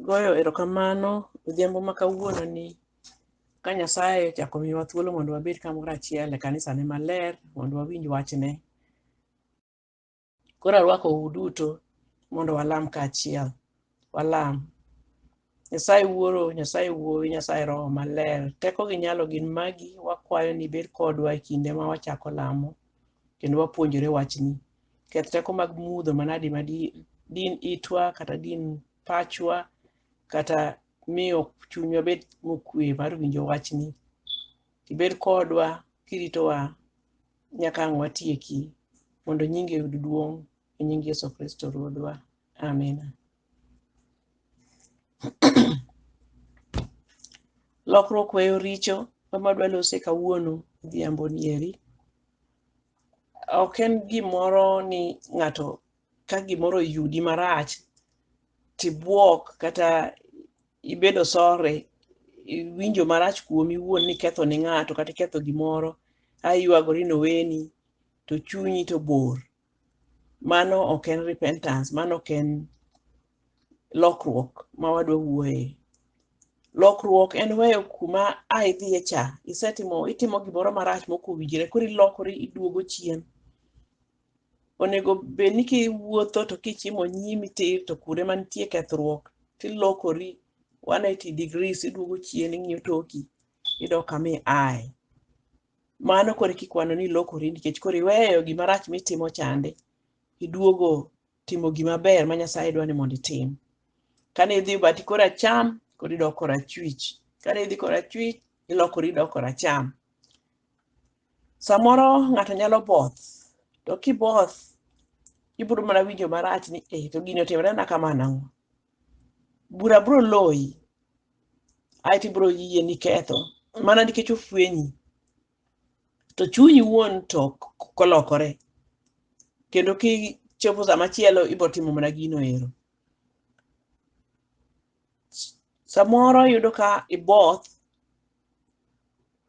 Goyo erokamano odhiambo ma kawuono ni ka Nyasaye ochako miyowa thuolo mondo wabed kamoro achiel e kanisane maler mondo wawinj wachne. Koro arwakou duto mondo walam kaachiel. Walam. Nyasaye Wuoro, Nyasaye Wuowi, Nyasaye Roho Maler, teko gi nyalo gin magi, wakwayo ni ibed kodwa e kinde ma wachako lamo kendo wapuonjore wachni. Keth teko mag mudho manadi ma di- din itwa kata din pachwa kata miyo chunywa bed mokwe mar winjo wachni. Ibed kodwa kiritowa nyaka ang' watieki mondo nyingi oyud duong' E nying Yesu Kristo Ruodhwa. Amina. Lokruok weyo richo ma dwa lose kawuono odhiambo nieri. Ok en gimoro ni ng'ato ka gimoro oyudi marach tibuok kata ibedo sore iwinjo marach kuomi iwuon ni iketho ne ng'ato kata iketho gimoro aywagori noweni to chunyi to bor mano ok en repentance mano ok en lokruok ma wadwa wuoye lokruok en weyo kuma a idhiye cha isetimo itimo gimoro marach mok owinjore koro ilokori iduogo chien onego bed ni kiwuotho to kichimo nyimi tir to kuonde mantie kethruok tilokori 180 degrees iduogo chien ing'iyo toki idok kama iaye mano koro kikwano ni ilokori nikech koro iweyo gima rach mitimo chande iduogo timo gima ber ma Nyasaye dwa ni mondo itim. Kane idhi bati koro acham, koro idok koro achwich. Kane idhi koro achwich, ilokori idok koro acham. Samoro ng'ato nyalo both, to kiboth, ibiro mana winjo marach ni eh, to gini otimorena kama nang'o. Bura biro loyi, ae to ibiro yie ni iketho mana nikech ofwenyi to chunyi wuon to kolokore kendo kichopo sama chielo ibiro timo mana gino ero samoro yudo ka iboth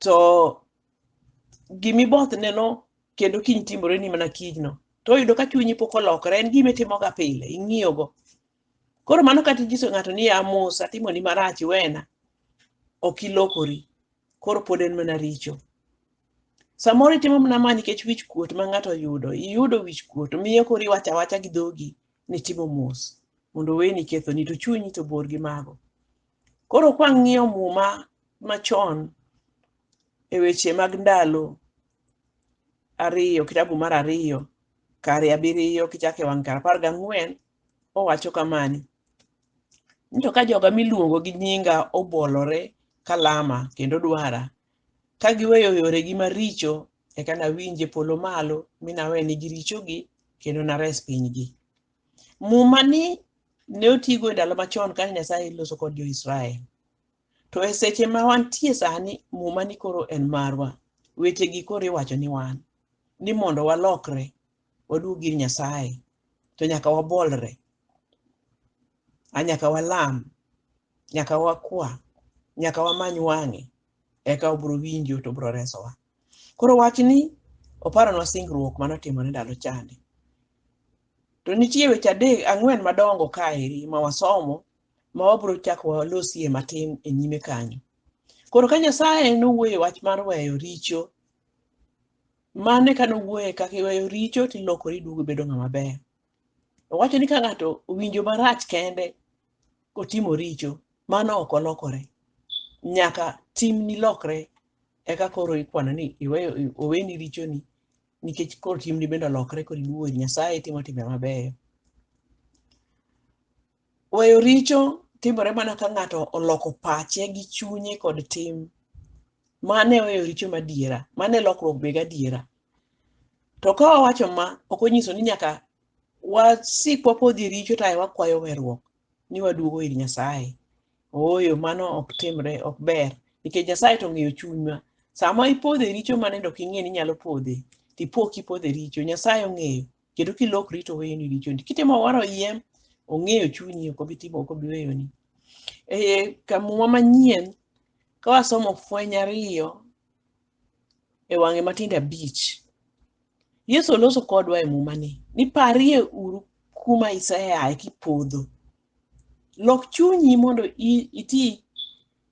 to gimiboth neno kendo kiny timore ni mana kijno to oyudo ka chunyi pok olokore en gima itimoga pile ing'iyogo Koro mano kata inyiso ng'ato ni a mos atimoni marach iwena, ok ilokori. Koro pod en mana richo. Samoro itimo mana ma nikech wich kuot ma ng'ato oyudo, iyudo wich kuot, miyo koro iwacho awacha gi dhogi ni itimo mos mondo oweni kethoni to chunyi to bor gi mago. Koro kwang'iyo muma machon e weche mag ndalo ariyo, kitabu mar ariyo, kare abiriyo kichako e wang' kar apar gang'wen owacho kamani ni to ka joga miluongo gi nyinga obolore ka lama kendo dwara ka giweyo yoregi maricho eka nawinj e polo malo mi nawenigi richogi kendo nares pinygi muma ni ne otigo e ndalo machon kane nyasaye loso kod jo-israel to e seche ma wantie sani muma ni koro en marwa wechegi koro iwacho ni wan ni mondo walokre waduog ir Nyasaye to nyaka wabolre, a nyaka walam, nyaka wakwa, nyaka wamany wang'e, eka obiro winjo to obiro resowa. Koro wachni oparonwa singruok mane otimore ndalo chande. To nitie weche adek ang'wen madongo kaeri ma wasomo ma wabiro chako walosie matin e nyime kanyo. Koro ka Nyasaye nowuoyo wach mar weyo richo Mano e ka nowuoye kaka iweyo richo tilokori iduogo ibedo ng'ama ber. Owacho ni ka ng'ato owinjo marach kende kotimo richo, mano ok olokore. Nyaka timni lokre eka koro ikwano ni iweyo i- oweni richoni nikech koro timni bende olokre koro iduogo ir Nyasaye itimo timbe mabeyo. Weyo richo timore mana ka ng'ato oloko pache gi chunye kod tim. Mano e weyo richo madiera, mano e lokruok be gadiera. To ka wawacho ma, ok onyiso ni nyaka wasik wapodhi e richo to ae wakwayo weruok ni waduogo ir Nyasaye. Ooyo, mano ok timre, ok ber. Nikech Nyasaye to ong'eyo chunywa. Sama ipodho e richo mane dok ing'e ni inyalo podhe, tipo kipodho e richo, Nyasaye ong'eyo. kendo kilokri to weyoni richoni kitimo waro yiem ong'eyo chunyi ok obi timo ok obi weyoni e kamuma manyien ka wasomo fweny ariyo e wang'e matindo abich yesu oloso kodwa e mumani ni parie uru kuma iseaye kipodho lok chunyi mondo i- iti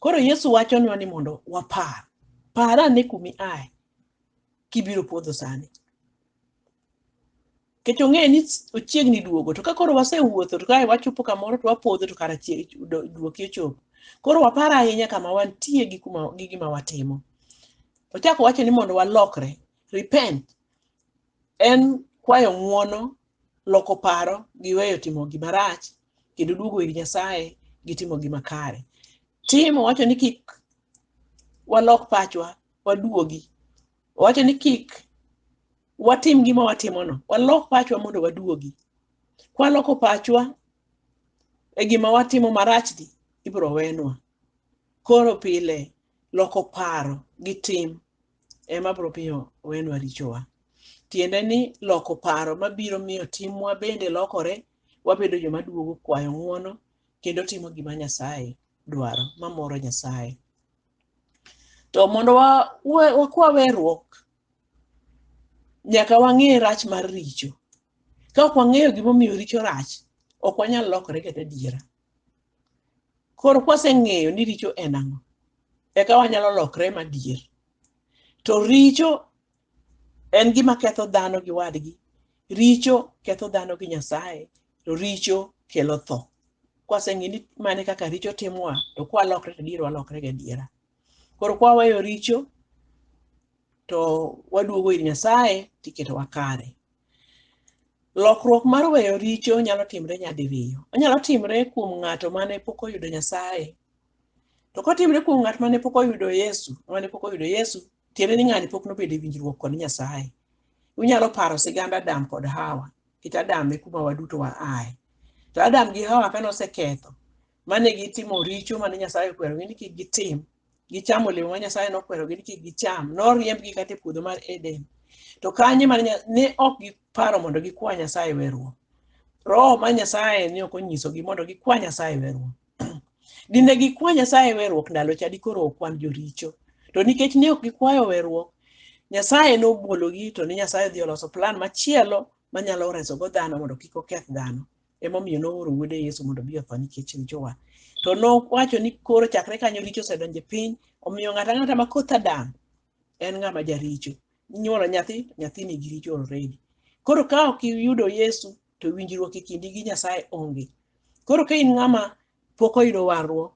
Koro Yesu wachonwa ni mondo wapar. Par ane kumi ae kibiro podho sani. Nikech ong'eyo ni ochiegni duogo, to ka koro wasewuotho to kae wachopo kamoro to wapodho to kara chie- do- duoki ochopo. Koro wapar ahinya kama wantie gi kuma gi gima watimo. Ochako wacho ni mondo walokre, repent en kwayo ng'uono, loko paro gi weyo timo gima rach kendo duogo ir Nyasaye gi timo gima kare. Tim owacho ni kik walok pachwa, waduogi. Owacho ni kik watim gima watimono, walok pachwa mondo waduogi. Kwaloko pachwa e gima watimo marachni, ibiro wenwa. Koro pile loko paro gi tim ema biro miyo wenwa richowa. Tiende ni loko paro mabiro miyo timwa bende lokore Wabedo joma duogo kwayo ng'wono kendo timo gima Nyasaye dwaro, mamoro Nyasaye. To mondo wakwa weruok, nyaka wang'e rach mar richo. Ka ok wang'eyo gimomiyo richo rach, ok wanyal lokore kata adiera. Koro kwaseng'eyo ni richo en ang'o, eka wanyalo lokre madier. To richo En gima ketho dhano gi wadgi. Richo ketho dhano gi Nyasaye, to richo kelo tho. Kwaseng'e ni mane kaka richo timowa, to kwalokre to diero walokre gi adiera. Koro kwaweyo richo, to waduogo ir Nyasaye tiketowa kare. Lokruok mar weyo richo nyalo timre nyadiriyo. Onyalo timre kuom ng'ato mane pok oyudo Nyasaye. To kotimre kuom ng'at mane pok oyudo Yesu, mane pok oyudo Yesu, Tiende ni ng'ani pok nobedo e winjruok kod Nyasaye. Unyalo paro sigand Adam kod Hawa. It Adam e kuma waduto wa ae. To Adam gi Hawa kane oseketho, mane gitimo richo mane Nyasaye okwerogi ni kik gitim, gichamo olemo ma Nyasaye nokwerogi ni kik gicham, noriembgi kata e puodho mar Eden. To kanye mane Nya- ne ok giparo mondo gikwa Nyasaye weruok. Roho ma Nyasaye ne ok onyisogi mondo gikwa Nyasaye weruok. Dine gikwa Nyasaye weruok ndalo cha dikoro okwan joricho. To nikech ne ok gikwayo weruok, Nyasaye nobwologi to ne Nyasaye odhi oloso plan machielo manyalo resogo dhano mondo kik oketh dhano. Emomiyo nooro wuode Yesu mondo obi otho nikech richowa. To nowacho ni koro chakre kanyo richo osedonjo e piny, omiyo ng'ato ang'ata ma koth Adam en ng'ama jaricho inyuolo nyathi nyathi nigi richo already koro ka ok iyudo yesu to winjruok e kindi gi nyasaye onge koro ka in ng'ama pok oyudo warruok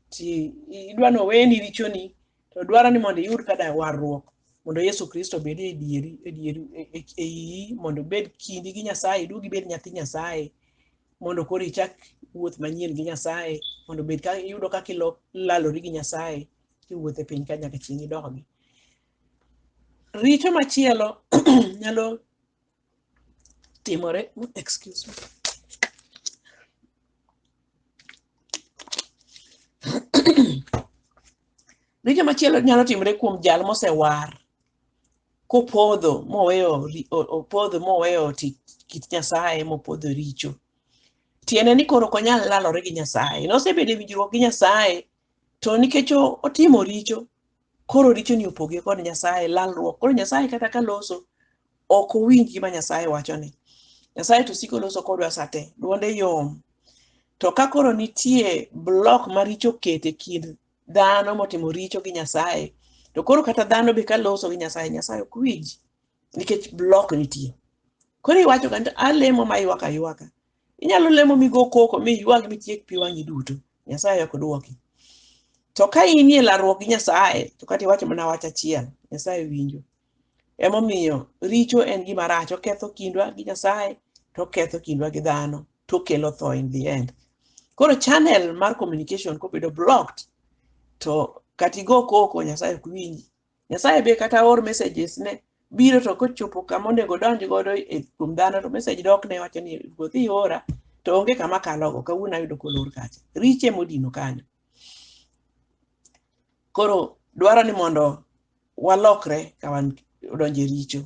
ti idwa ni oweni richoni to dwaro ni mondo iyud kada warruok mondo yesu kristo bed e dieri e dieri e- e- e iyi mondo ibed kindi gi nyasaye iduog ibed nyathi nyasaye mondo koro ichak wuoth manyien gi nyasaye mondo bed ka iyudo kaka ilo- ilalori gi nyasaye kiwuotho e piny ka nyaka chieng' idogi. Richo machielo nyalo timore, excuse me. Richo machielo nyalo timore kuom jal mosewar kopodho moweyo ri- o- opodho moweyo ti- kit Nyasaye mopodho richo. Tiende ni koro ok onyal lalore gi Nyasaye. Nosebedo e winjruok gi Nyasaye to nikech o- otimo richo koro richoni opoge kod nyasaye lalruok koro nyasaye kata ka loso ok owinj gima nyasaye wachoni nyasaye to siko loso kodwa sate dwonde yom to ka koro nitie blok ma richo oketo e kind dhano motimo richo gi nyasaye to koro kata dhano be ka loso gi nyasaye nyasaye ok winj nikech blok nitie koro iwacho kani to alemo ma ywaka ywaka inyalo lemo migo koko mi ywag mitiek pi wang'i duto nyasaye ok dwoki to ka in e larruok gi nyasaye to kata iwacho mana wach achiel nyasaye winjo emomiyo richo en gima rach oketho kindwa gi nyasaye to oketho kindwa gi dhano to okelo tho in the end koro channel mar communication kobedo blocked to kata igo koko nyasaye ok winji Nyasaye be kata or messages ne biro to kochopo kama onego donj godo e kuom dhano to message dok ne wacho ni ruoth iora to onge kama kalogo kawuono ayudo kolor kacha riche modino kanyo koro dwaro ni mondo walokre ka wan odonje richo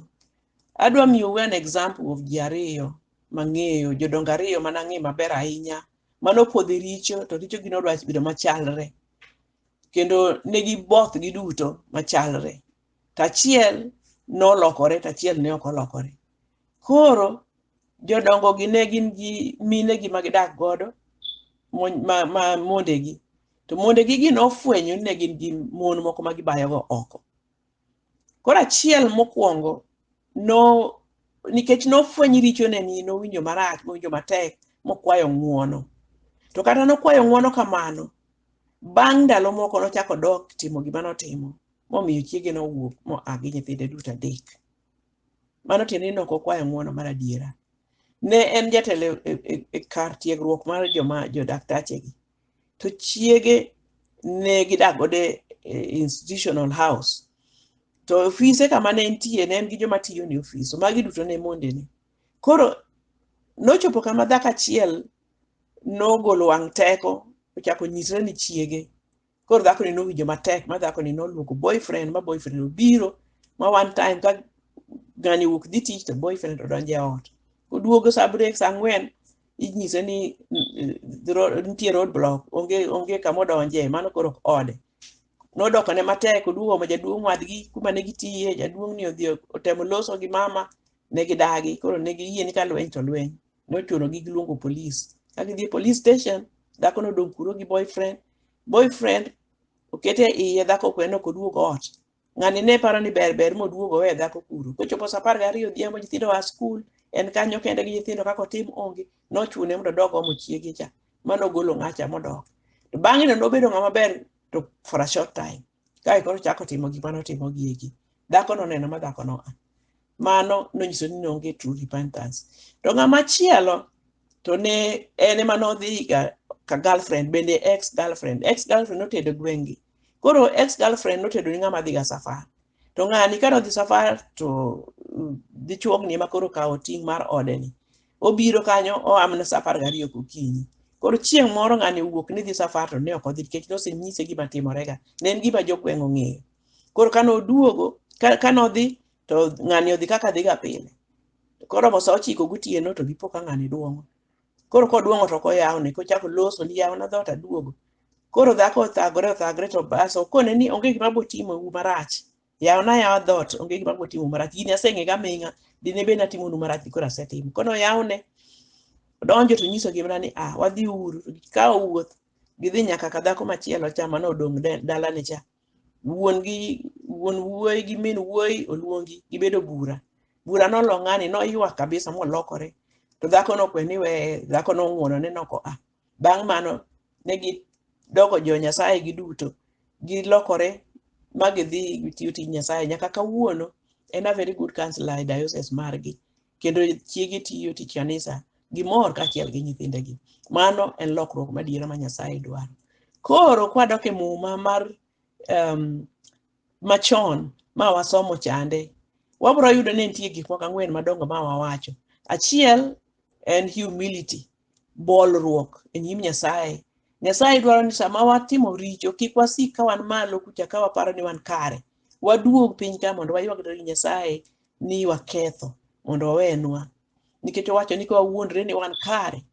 adwa miyo we an example of ji ariyo mang'eyo jodongo ariyo mana ng'e maber ahinya mano podhi richo to richo gino odwa bedo machalre kendo ne giboth giduto machalre tachiel nolokore tachiel ne ok olokore koro jodongo gi ne gin gi mine gi ma gidak godo mon- ma, ma mondegi to mondegi gi nofwenyo ni ne gin gi mon moko ma gibayogo oko Koro achiel mokwongo no nikech nofweny richone ni nowinjo marach nowinjo matek mokwayo ng'uono to kata nokwayo ng'uono kamano bang' ndalo moko nochako dok timo gima notimo momiyo chiege nowuok moa gi nyithinde duto adek mano tiende ni nok okwayo ng'uono mar adiera ne en jatelo e, e, e kar tiegruok mar joma jodaktachegi to chiege ne gidak godo e institutional house to ofise kama ne entie ne en gi joma tiyo ne ofis so magi duto ne mondene koro nochopo kama dhako achiel nogolo wang' teko ochako nyisre ni chiege koro dhakoni nowinjo matek ma dhakoni noluoko boyfriend ma boyfriend obiro ma one time ka ng'ani wuok dhi tich to boyfriend odonjo e ot oduogo sa brek sa ang'wen inyise ni nitie road block onge onge kama odonje mano koro ok ode nodoko ne matek oduogo ma jaduong' wadgi kuma ne gitiye jaduong' ni odhi otemo loso gi mama ne gidagi koro ne giyie ni ka lweny to lweny nochuno gi giluongo polis ka gidhi e police station dhako nodong' kuro gi boyfriend boyfriend okete iye dhako kwe nok oduog ot ng'ani ne paro ni ber ber moduogo owe dhako kuro kochopo sa apar gariyo odhiambo nyithindo oa skul en kanyo kende gi nyithindo kaka otim onge nochune mondo odog omo chiege cha mano ogolo ng'acha modok to bang'e no nobedo ng'ama ber to for a short time kae koro chako timo gik mane otimo gieki dhako noneno ma dhako noa mano nonyiso ni nonge true repentance to ng'ama chielo to ne en ema nodhi ga ka girlfriend bende ex girlfriend ex girlfriend notedo gwengi koro ex girlfriend notedo ni ng'ama dhi ga safar to ng'ani ka nodhi safar to mm, dichuogni ema koro kawo ting' mar ode ni obiro kanyo oamne safar gariyo gokinyi koro chieng' moro ng'ani owuok ni dhi safar to ne ok odhi nikech nosenyise gima timorega ne en gima jogweng' ong'eyo koro kane oduogo ka- kane odhi to ng'ani odhi kaka dhiga pile to koromo sa ochiko gotieno to gipo ka ng'ani duong'o koro koduong'o to koyawne kochako loso ni yawna dhoot aduogo koro dhako othagore othagre to bas okone ni onge gima botimo u marach yawna yawa dhoot onge gima botimo u marach gini aseng'ega aming'a dine bed natimonu marach koro asetimo kono yawne odonjo to nyiso gimna ni ah wadhi uru to gikawo wuoth gidhi nyaka ka dhako machielo cha mane odong' de- dalane cha wuon gi wuon wuoyi gi min wuoyi oluongi gibedo bura bura nolo ng'ani noywak kabisa molokore to dhako nokwe ni we dhako nong'wono ne noko a bang' mano ne gidoko jo nyasaye giduto gilokore ma gidhi tiyo tij nyasaye nyaka kawuono en a very good counselor e diocese margi kendo chiege tiyo tich kanisa gimor kaachiel gi nyithindegi mano en lokruok madiera ma nyasaye dwaro koro kwadok e muma mar um, machon ma wasomo chande wabiro yudo ni nitie gik moko ang'wen madongo ma wawacho achiel en humility bolruok e nyim nyasaye nyasaye dwaro ni sama watimo richo kik wasik ka wan malo kucha ka waparo ni wan kare waduog piny ka mondo waywagre gi nyasaye ni waketho mondo owenwa nikech owacho ni ka wawuondre ni wan kare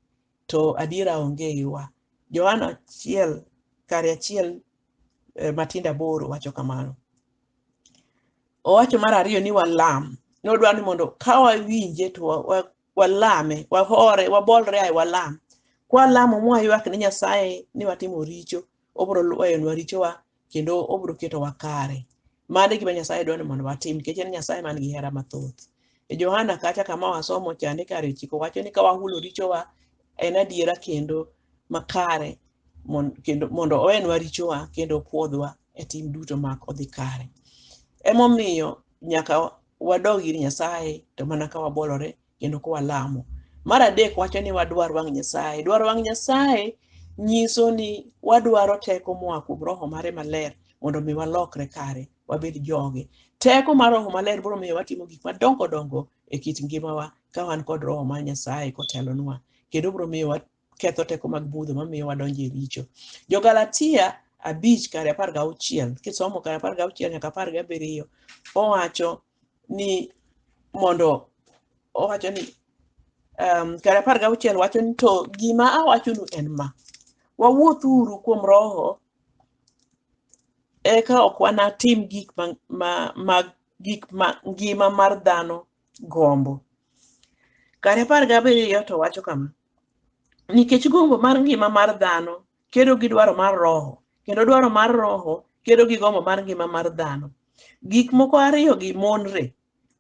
to adiera onge eiwa johana achiel kare achiel eh, matindo aboro wacho kamano owacho mar ariyo ni walam nodwaro ni mondo ka wawinje to wa- wa- walame wahore wabolre ae walam kwalamo mwaywak ne nyasaye ni watimo richo obiro weyonwa richowa kendo obiro ketowa kare. Mano e gima Nyasaye dwaro ni mondo watim nikech en Nyasaye man gi hera mathoth. E Johana kacha kama wasomo cha ni kare chiko wacho ni ka wahulo richowa en adiera kendo makare mon- kendo mondo owenwa richowa kendo opwodhwa e tim duto mak odhi kare. Emomiyo nyaka wadog ir Nyasaye to mana ka wabolore kendo ka walamo. Mar adek wacho ni wadwar wang' Nyasaye. Dwaro wang' Nyasaye nyiso ni wadwaro teko moa kuom roho mare maler mondo omi walokre kare wabed joge. Teko mar roho maler biro miyo watimo gik madongo dongo e kit ngimawa ka wan kod roho mar Nyasaye kotelonwa kendo biro miyo ketho teko mag budho mamiyo wadonjo e richo. Jo-Galatia abich kare apar gauchiel kisomo kare apar gauchiel nyaka apar gabiriyo owacho ni mondo owacho ni um, kare apar gauchiel wacho ni to gima awachonu en ma wawuothuru kuom roho eka ok wanatim gik ma, ma, ma gik ma ngima mar dhano gombo kare apar gabiriyo to wacho kama Nikech gombo mar ngima mar dhano kedo gi dwaro mar roho, kendo dwaro mar roho kedo gi gombo mar ngima mar dhano. Gik moko ariyogi monre,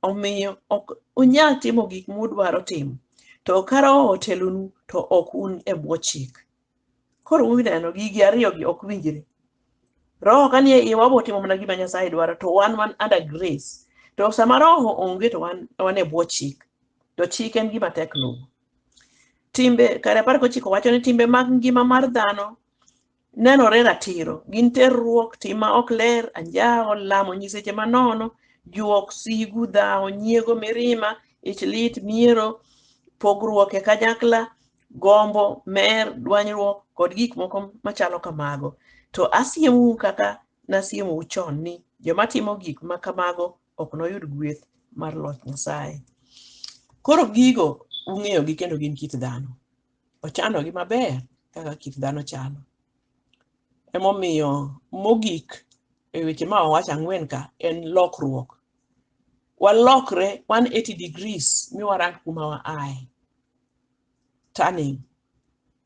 omiyo ok unyal timo gik mudwaro timo. To ka roho otelonu, to ok un e bwo chik. Koro uneno, gigi ariyogi ok winjre. Roho ka nie iwa wabo timo mana gima Nyasaye dwaro, to wan wan under grace. To sama roho onge to wan wan e bwo chik, to chik en gima tek luwo. Timbe kare apar gochiko wacho ni timbe mag ngima mar dhano nenore ratiro. Gin terruok, tim ma ok ler, anjawo, lamo nyiseche manono, juok, sigu, dhawo, nyiego, mirima, ich lit, miero, pogruok e kanyakla, gombo, mer, dwanyruok kod gik moko machalo kamago. To asiemou kaka nasiemou chon ni joma timo gik ma kamago ok noyud gweth mar loch Nyasaye. Koro gigo ung'eyogi kendo gin kit dhano. Ochanogi maber kaka kit dhano chano. Emomiyo mogik e weche ma owacho ang'wen ka en lokruok. Walokre 180 degrees mi warang kuma wa ae. Turning.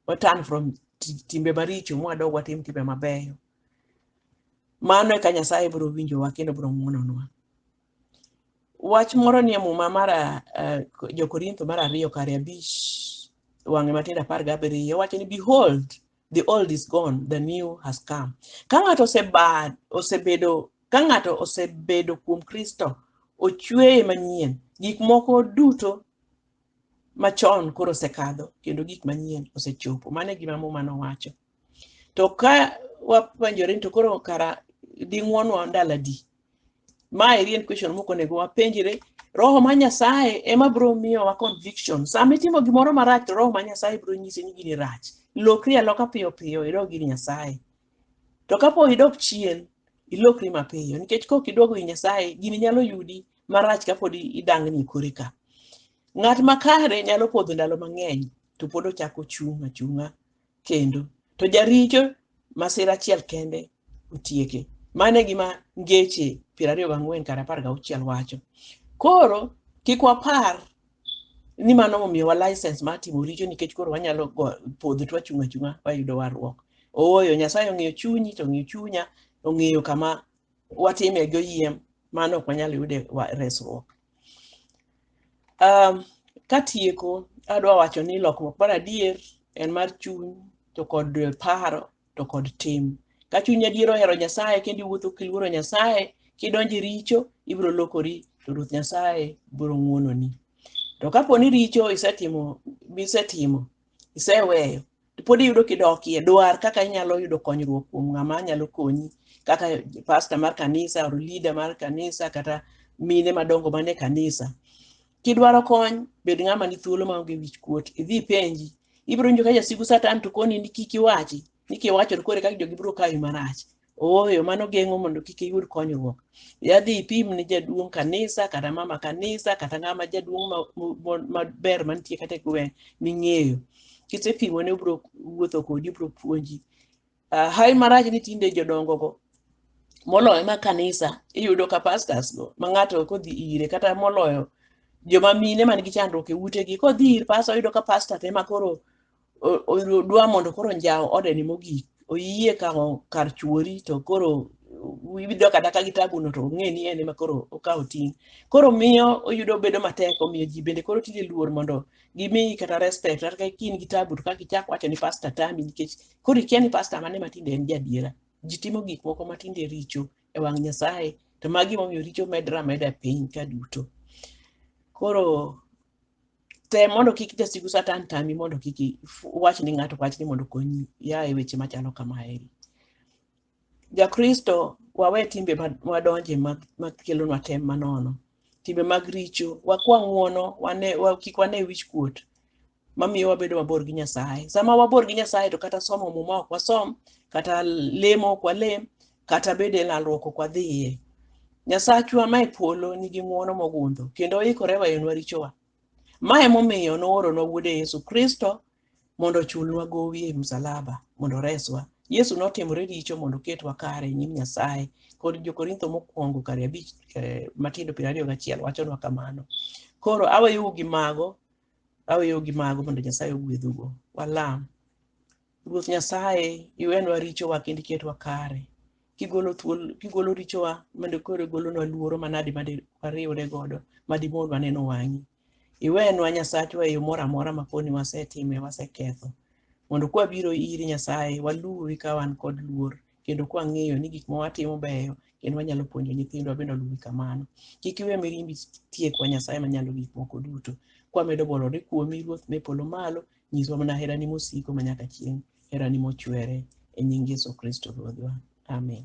Watan from ti- timbe maricho mwadog watim timbe mabeyo. mano eka nyasaye biro winjowa kendo biro ng'wononwa wach moro nie muma mar uh, jokorintho mar ariyo kare abich wang'e matindo apar gabiriyo wacho ni behold the old is gone the new has come ka ng'ato oseba- osebedo ka ng'ato osebedo kuom kristo ochweye manyien gik moko duto machon koro osekadho kendo gik manyien osechopo mano e gima muma nowacho to ka wapenjore ni to koro kara ding'wonwa ndalo adi ma eri en question moko onego wapenjre roho ma nyasaye ema bro miyowa conviction sama itimo gimoro marach to roho ma nyasaye bro nyisi ni gini rach lokri aloka piyo piyo idog ir nyasaye to kapo idok chien ilokri mapiyo nikech kok iduogo ir nyasaye gini nyalo yudi marach kapod idangni kore ka ng'at makare nyalo podho ndalo mang'eny to pod ochako chung' achung'a kendo. To jaricho masira achiel kende otieke. Mano e gima ngeche piero ariyo gang'wen kar apar gauchiel wacho. Koro kik wapar ni mano momiyowa license mar timo richo nikech koro wanyalo go- podho to wachung' achung'a wayudo warruok. Ooyo, Nyasaye ong'eyo chunyi to ong'eyo chunya, ong'eyo kama watime gi oyiem mano ok wanyal yude wa- resruok um, katieko adwa wacho ni lokruok mar adier en mar chuny to kod paro to kod tim ka chuny adier ohero nyasaye kendo iwuotho kiluoro nyasaye kidonjo e richo ibiro lokori to ruoth nyasaye biro ng'wononi to kapo ni richo isetimo misetimo iseweyo pod iyudo kidokie dwar kaka inyalo yudo konyruok kuom ng'ama nyalo konyi kaka pasta mar kanisa or leader mar kanisa kata mine madongo mane kanisa kidwaro kony bed ng'ama ni thuolo maonge wich kuot idhi ipenji ibiro winjo ka jasigu satan to koni ni kik iwachi ni kiwacho to koro kaka jogi biro kawi marach Ooyo, mano geng'o mondo kik iyud konyruok. Yadhi ipim ni jaduong' kanisa kata mama kanisa kata ng'ama jaduong' ma- mo- mo- maber mantie kata e gweng' ming'eyo. Kisepimo ne obro wuotho kodi, obro puonji. Ah, Hai marach ni tinde jodongo go moloyo ma kanisa iyudo ka pastors go ma ng'ato kodhi ire kata moloyo joma mine man gi chandruok e utegi kodhi ir pastor oyudo ka pastor te ma koro o- o- dwa mondo koro njawo odeni mogik oyie kawo kar chuori to koro idok adaka gi tabuno to ong'e ni en ema koro okawo ting' koro miyo oyudo bedo matek omiyo ji bende koro tinde luor mondo gimiyi kata respect kata ka in gi tabu to kaka ichak wacho ni pasta tami nikech koro ikia ni pasta mane ma tinde en jadiera ji timo gik moko ma tinde richo e wang' nyasaye to magi momiyo richo medre ameda e piny ka duto koro tem mondo kik jasigu satan tami mondo kik i- fu- wach ni ng'ato wach ni mondo konyi ya e weche machalo kamaeri jakristo wawe timbe ma- madonje ma- makelonwa tem manono timbe mag richo wakwa ng'uono wane, wa, kik wane wich kuot mamiyo wabedo mabor gi nyasaye sama wabor gi nyasaye to kata somo muma ok wasom kata lemo ok walem kata bed e lalruok ok wadhiye. Nyasachwa ma e polo nigi ng'wono mogundho kendo oikore weyonwa richowa. Ma emomiyo nooronwa wuode Yesu Kristo mondo ochulnwa gowi e msalaba mondo oreswa. Yesu notimore richo mondo oketwa kare e nyim Nyasaye kod Jokorintho mokwongo kare abich eh, matindo piero ariyo gachiel wachonwa kamano. Koro aweyou gi mago, aweyou gi mago mondo Nyasaye ogwedhugo. Walam. Ruoth Nyasaye, iwenwa richowa kendo iketwa kare. Kigolo thuol, kigolo richowa mondo koro igolonwa luoro manadi ma di- wariwre godo ma dimon waneno wang'i. Iwenwa Nyasachwa e yo moro amora ma poni wasetime waseketho. Mondo kwabiro iri Nyasaye, waluwi ka wan kod luor kendo kwang'eyo ni gik ma watimo beyo kendo wanyalo puonjo nyithindwa bende oluwi kamano. Kik iwe mirimbi tiekwa Nyasaye manyalo gik moko duto. Kwamedo bolore kuomi Ruoth me polo malo Nyiswa mana herani mosiko ma nyaka chieng', herani mochwere e nying Yesu Kristo Ruodhwa. Amen.